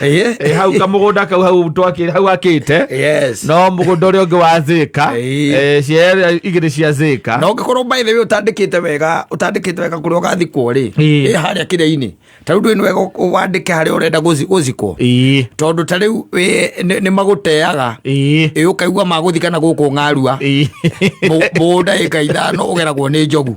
Eh, Eh, hau kamũgũnda kau hau twakĩ- hau akĩte yes no mũgũnda ũrĩa ũngĩ wa zĩka Eh. eh, ciea igĩrĩ cia zĩka na ũngĩkorwo by the way ũtandĩkĩte wega ũtandĩkĩte wega kũrĩa ũgathikwo rĩ Ĩĩ. ĩ harĩa kĩrĩa-inĩ ta rĩu ndũĩ nĩ wega ũ- wandĩke harĩa ũrenda gũzi- gũzikwo Ĩĩ, tondũ ta rĩu wĩ- nĩ nĩ magũteaga ĩĩ, ĩ ũkaigua magũthikana gũkũ ng'arua ĩĩ. mũgũnda ĩka ithano ũgeragwo nĩ njogu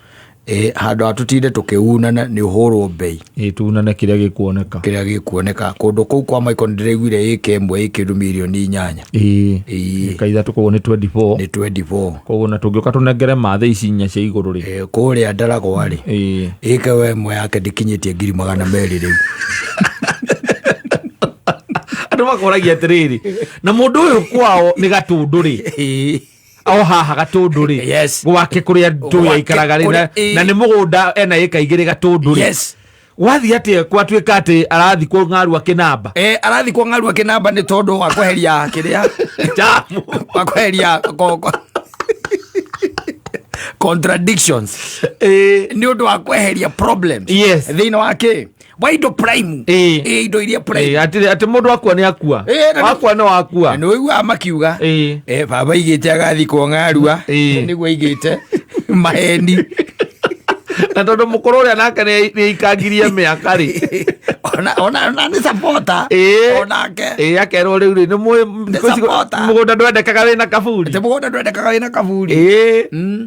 Eh, handå ha tå tinde tå kä unana nä å hå rwo mbei Ĩ, tunane kĩrĩa gĩkuoneka kä rä a gä kuoneka kå ndå kå u kwa maiko nä ndä raiguire ä ka ä mwe ä kä ndå mirioni inyanya Ĩ, Ĩ. ĩka ithatũ koguo nĩ 24 nä 24 koguo na tũngĩũka tũnengere mathĩ ici inya cia igũrũ rĩ Eh, kå rä a ndaragwa rä Ĩ, ä ke we mwe yake ndä kinyä tie ngiri magana merä rä u andũ makoragia atĩrĩrĩ na mũndũ ũyũ kwao nĩ gatũndũ rĩ o haha gatũndũ rĩ Yes. gwake kå rä a ndå Gwake yaikaraga rä na- kũrĩa- ĩ. na nä må gå nda ena ä ka igä rä gatũndũ rĩ Yes. gwathiä atä gwatuä ka atä arathi kå ng'aru akä namba Eh, arathi kwa ng'aru akinamba ni tondu wa kweheria kiria Jamu. wa kweheria ko- ko- contradictions Ĩ, ni undu wa kweheria problems Yes. thiini wa ki wa indo prime eh eh indo iria prime eh ati ati mundu akua ni akua eh, akua no akua no igua makiuga eh eh baba igite agathi ko ngarua eh. niguo igite maheni na tondu mukuru uria nake ni ikangirie miaka ri ona ona ona ni sapota eh. onake eh akerwo riu ri ni mugunda ndwendekaga wina kaburi ni mugunda ndwendekaga wina kaburi eh mm.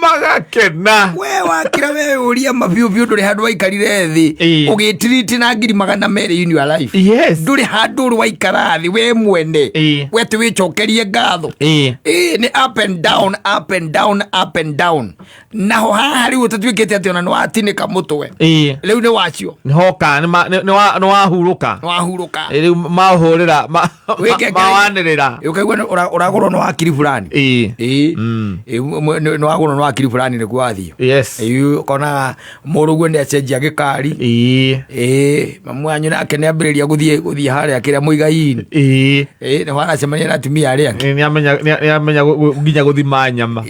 magakena we wakira we uria mabiu biu nduri handu waikarire thi Ĩĩ. ugitiriti na ngiri magana meri in your life yes nduri handu uri waikara thi we mwene Ĩĩ. we ti wicokerie ngatho Eh. Ĩĩ, nĩ up and down up and down up and down naho haha rĩu ũtatuĩkĩte atĩ ona nĩ watinĩka mũtwe Eh. rĩu nĩ wacio nĩhoka nĩwahurũka nĩ wahurũka rĩu mahũrĩra Wĩke ngai. mawanĩrĩra ukaigua nĩ- ũra- ũragũrwo nĩ wakiri fulani Ĩĩ. Ĩĩ. Mm. Ĩĩ, mwe- nĩ nĩ wagũrwo nĩ wakiri fulani nĩkuo wathiĩ yes Ĩĩ, ũkonaga mũrũguo nĩ acenjia gĩkari Ĩĩ. Ĩĩ, mamu wanyu nake nĩ ambĩrĩria gũthiĩ gũthiĩ harĩa kĩrĩa mũigaini Ĩĩ. Ĩĩ, nĩ wanacemania na atumia arĩa angĩ Nĩ- nĩamenya- nĩ- nĩamenya gũ- gũ- nginya gũthima nyama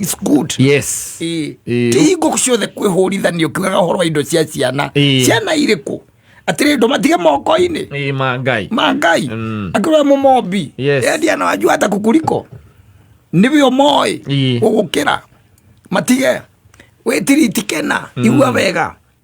It's good yes Ĩĩ. Ĩĩ. ti hingo ciothe kwĩhũrithanio kiugaga ũhoro wa indo cia ciana Ĩĩ. ciana irĩ kũ atĩrĩ ndå matige moko-inĩ Ĩĩ, ma ngai ma ngai Mm. akĩrora må mombi Yes. endia na wanjua hata kukuriko nä wä o moä Ĩĩ. gå gå kä ra matige wä tiritike na igua wega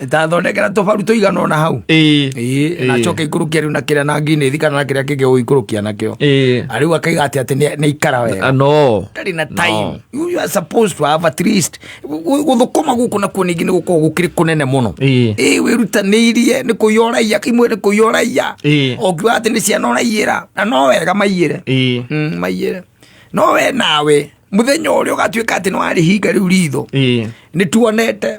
ndathondekera tũbaru tũigana ona hau ĩĩ Ĩĩ, na Ĩĩ. coke ikũrũkia rĩu na kĩrĩa na nginĩthi kana na kĩrĩa kĩngĩ ũikũrũkia nakĩo ĩĩ Na rĩu akaiga atĩ atĩ nĩ- nĩ ikara wega Ah, no ndarĩ na time you are supposed to have at least gu- gũthũkũma gũkũ nakuo ningĩ nĩ gũkorwo gũkĩrĩ kũnene mũno Ĩĩ. ĩĩ wĩrutanĩirie nĩ kũiya ũraiya kĩmwe nĩ kũiya ũraiya Ĩĩ. ũngiuga atĩ nĩ ciana ũraiyĩra na no wega maiyĩre ĩĩ Mm, maiyĩre no we nawe mũthenya ũrĩa ũgatuĩka atĩ nĩ warĩhinga rĩu ritho ĩĩ nĩ tuonete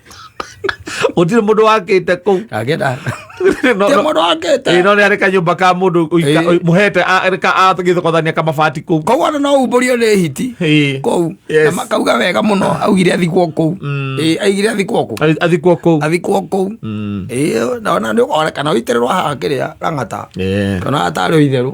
gutire mundu wakite kuu agenda No- no- mundu akite Ĩĩ, no nä arä kanyå ka må ndå Ĩĩ. må hete agä thokothania kamabati kå koguo andå no umbũrio nĩ hiti kũu Yes. na makauga wega mũno augire athikwo kũu Mm. Ĩĩ, aigire athikwo kũu athikwo kå athikwo kũu Ĩĩ, na ona nĩ ũkona kana ũitĩrĩrwo haha kĩrĩa rang'ata kana atarĩ o itherũ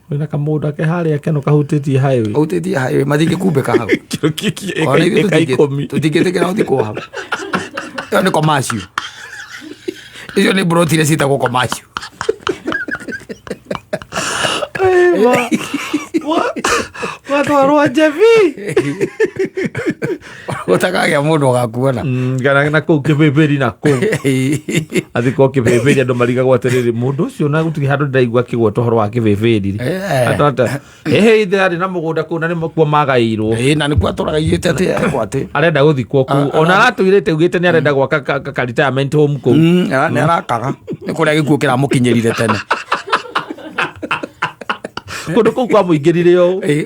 wĩna kamũndũ ke harĩa keno kahutĩtie highway kahutĩtie highway matingĩkumbĩka hau tũtingĩtĩkĩra gũthikwo hau ĩyo nĩ komacio icio nĩ mburoti iria ciĩtagwo komacio watwarwo njebi Gũtakagĩa mũndũ ũgakuona. Mm, kana na kũu kĩbĩbĩri na kũu athi ko kĩbĩbĩri andũ marigagwo atĩrĩrĩ mũndũ ũcio na gũtirĩ handũ ndĩraigua akĩgweta ũhoro wa kĩbĩbĩri rĩ Eh. Andũ ata- ĩhĩ ithe arĩ na mũgũnda kũu na nĩ kuo magaĩirwo Ĩĩ, na nĩkuo atũraga igĩte atĩ ekwo atĩ arenda gũthikwo kũu Ah, ona aratũirĩte ugĩte nĩ arenda gwaka ka- ka- ka retirement home kũu Mm, ara- nĩ arakaga nĩ kũrĩa gĩkuo kĩramũkinyĩrire tene kũndũ kũu kwa mũingĩrire ũũ Ĩĩ.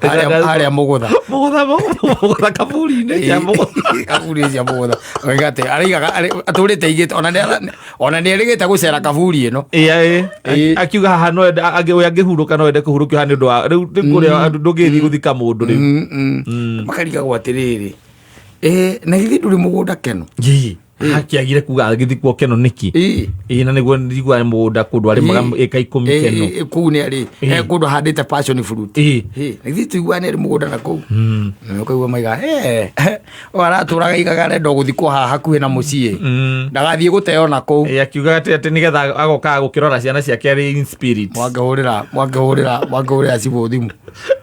harĩa harĩa mũgũtha mũgũtha mũgũtha kaburi-inĩ ya mũgũtha kaburi cia mũgũtha oiga atĩ araigaga arĩ- atũrĩte igĩte ona nĩ- ona nĩ erĩgĩte gũcera kaburi ĩno Ĩĩ, Ĩĩ. akiuga haha no ende angĩ ũyũ angĩhurũka no ende kũhurũkio haha nĩ ũndũ wa rĩu rĩu kũrĩa ndũngĩthiĩ gũthika mũndũ rĩu Mm, mm. makarigagwo atĩrĩrĩ Eh, na githĩ ndũrĩ mũgũnda keno Ii. hakiagire kuga agithi kuo keno niki ii na niguo ndigua mugunda kundu arimaga ika ikumi keno kuu ni ari e kundu handite passion fruit ii ithi tuigua ni mugunda na kuu hmm. ukaigua maiga eh o araturaga igaga rendo guthi kwa haha hakuhi na mucii hmm. ndagathie guteo na kuu e akiuga ati ati nigetha agoka gukirora ciana ciake ari in spirit mwangehurira mwangehurira mwangehurira cibu thimu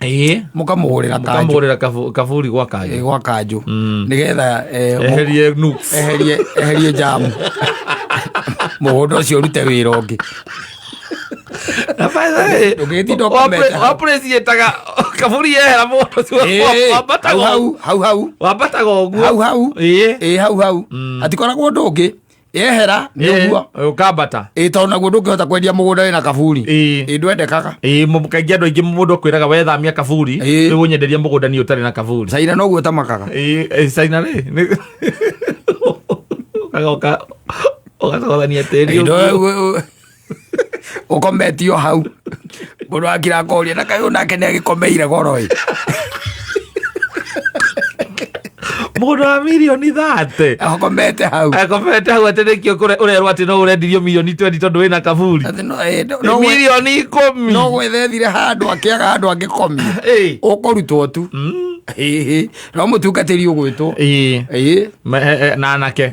ĩĩ mũkamũhũrĩra kanjũ kamũgũrĩra kabu- kaburi gwa kanjũ ĩĩ, gwa kanjũ nĩgetha eh, mũ- eherie nuks eherie eherie jamu mũgũnda ũcio ũrute wĩra ũngĩ ndũngĩtinda ũkomete hau. wapreciataga kaburi yehera mũndũ ũcio Ĩĩ, wambataga hau ũguo. hau hau hau wambataga ũguo hau hau Ĩĩ. ĩĩ hau hau hatikoragwo ũndũ ũngĩ yehera nĩ Eh, ũguo eh, ũkambata ĩ tondũ naguo ndũngĩhota kwendia mũgũnda wĩna kaburi Ĩ. ĩ ndwendekaga Ĩ, mũ- kaingĩ andå aingä må ndå akwä raga wethamia kaburi Ĩ. nä gå nyenderia må gå ndani å tarä na kaburi caira noguo tamakaga Ĩ, ĩ, caina rä nĩ- Ũkaga ũka- ũgacogothania tĩri Ĩ, ũguo. ndũ- ukometio hau mundu akira akoria na kayo nake ni agikomeire goro i mundu wa milioni thate akomete hau akomete hau atä rä kio å rerwo atä no å rendirio milioni twendi tondå wä na kaburi Ati no- eh, no- no- milioni ikå mi no gwethethire handu akiaga handu angikomia Ĩĩ. ukurutwo tu Ĩĩ. no mutungatiri ugwitwo Ĩĩ. Ĩĩ. Me- eh, eh, na anake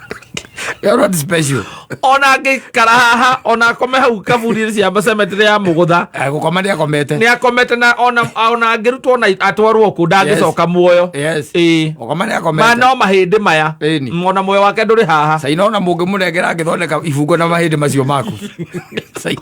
You're not special. ona ngikara haha ona akome hau kaburi cia cemetery ya mugutha Eh, gũkoma nĩ akomete nä akomete na ona ona angä rutwo na atwarwo kå ndangä coka muoyo Yes. Ĩĩ. gũkoma nĩ ma akomete no mahä ndä maya Ĩni. Mm, ona muoyo wake ndå rä haha caina ona mũngĩ mũnengera angĩthondeka ibungo na mahĩndĩ macio maku Caina.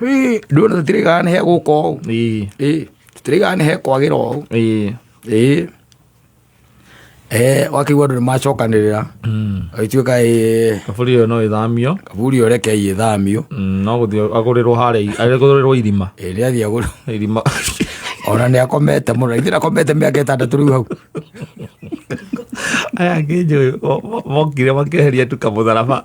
Hĩ, ndũrona tũtirĩgaga nĩ he gũka ũũ ĩĩ Ĩ, tũtirĩgaga nĩ he kwagĩra ũũ ĩĩ Ĩ. Eh, wakĩigua andũ nĩ macokanĩrĩra Mm. agĩtuĩka ĩ kaburi ĩyo no ĩthamio kaburi ĩyo reke igĩthamio Mm, no gũthiĩ agũrĩrwo harĩa i- agũrĩrwo irima Ĩ, nĩ athiĩ agũrũ irima ona nĩ akomete mũno ithe ndakomete mĩaka ĩtandatũ rĩu hau aya ngĩnjũĩ mokire makeheria tu kamũtharaba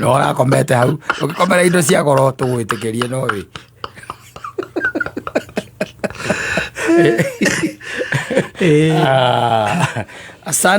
no ũrakomete hau ũngĩkomera indo cia goro tũgwĩtĩkĩrie no wĩ Eh. Ah, asante